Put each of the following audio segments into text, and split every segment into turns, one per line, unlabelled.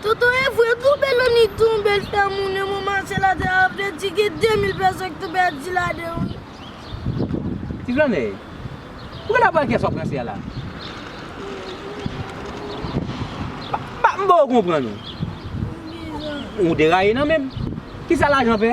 Tonton
evre tou bel annik tou yon bel fè moun yon moun mache ladan a vle di gen 2000 pèson ki tou pèdi ladan wi. Ti Granmèy,
pouki nap pran kès wap ranse a la? Ba m ba w konprann ou. Ou deraye nan menm. Kisa lajan fè?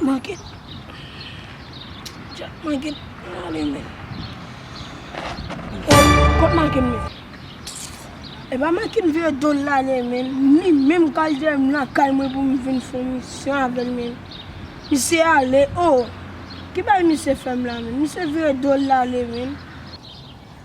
Manke. Jack manke. Mane men. Kot manke men. E ba manke m vye do la le men. Ni menm kal jè m la kay mwen pou m vin fon mi. Se avèl men. Mi se ale. Oh. Ki bay mi se fèm la men. Mi se vye do la le men.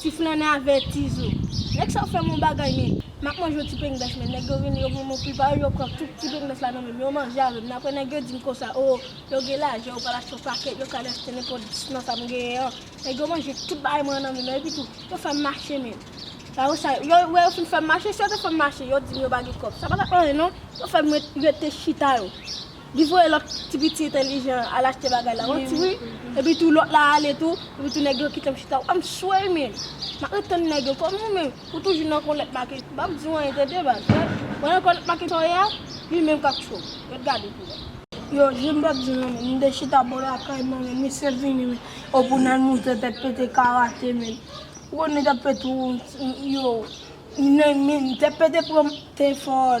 Ti flannè avè ti zo. Nèg sa yo fè m yon bagay men. M ap manje yon ti pengbès men nèg yo vini yo ban m yon pil pawòl yo pran tout ti pengbès la nan men m yo manje avè m nan aprè nèg yo di m konsa oo yo gen lajan yo pral achte yon pakèt yo kal achte nenpòt dis nan sa m genyen an nèg yo manje tout bagay mwen an nan men m nan epitou yo fè m mache men la yo sa yo wè yo fin fè m mache si yo te fè m mache yo di m yo pa gen kòb sa pa t ap anyen non yo fè m rete chita yo. Li voye lòt ti piti entelijan an al achte bagay la wan tiri epi tou lòt la ale tou epi tou nèg yo kite m chita wè m swe men m ap ret tann nèg yo kòm ou menm ou toujou nan kòlèt make m pap di w anyen tande baz wè nan kòlèt make sa w ye a li menm k ap cho w ret gade pou wè. Yo jwe m pap di w
nan men m te chita bò lakay mwen men misye vini men o pou n al moute tèt pete karate men ou konnen tèt pete w yo men tèt pete pran m te fò.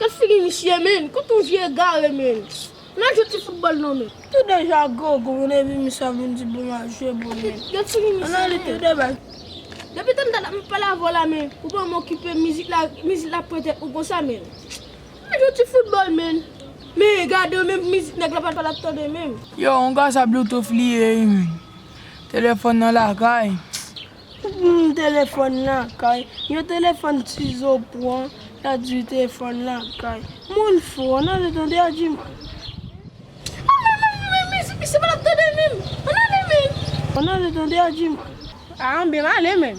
Nan figi misye menn, kot on vye egare menn. Nan jwe ti foutbòl non menn. Tout deja gou
gou menn epi misye ap vin di pou m al jwe bòl menn. Gad figi misye menn. Nan li
tou de bal.
Depi tann
dat ap m pale avè w la menn, ou pa m okipe mizik la, mizik la pran tèt ou konsa menn. Nan jwe ti foutbòl menn. Men gade w menm mizik nèg la pa pral ap tande menm. Yo on gasa
bloutouf li ye wi menn. Telefòn nan lakay. Humm telefòn
lan kay. Yon telefòn tizo pwan la di telefòn lan kay. Moun fou an ale tande ajiman. An men men men
men se misye pat ap tande menm an ale menm.
An ale tande ajiman. A anben m
ale menm.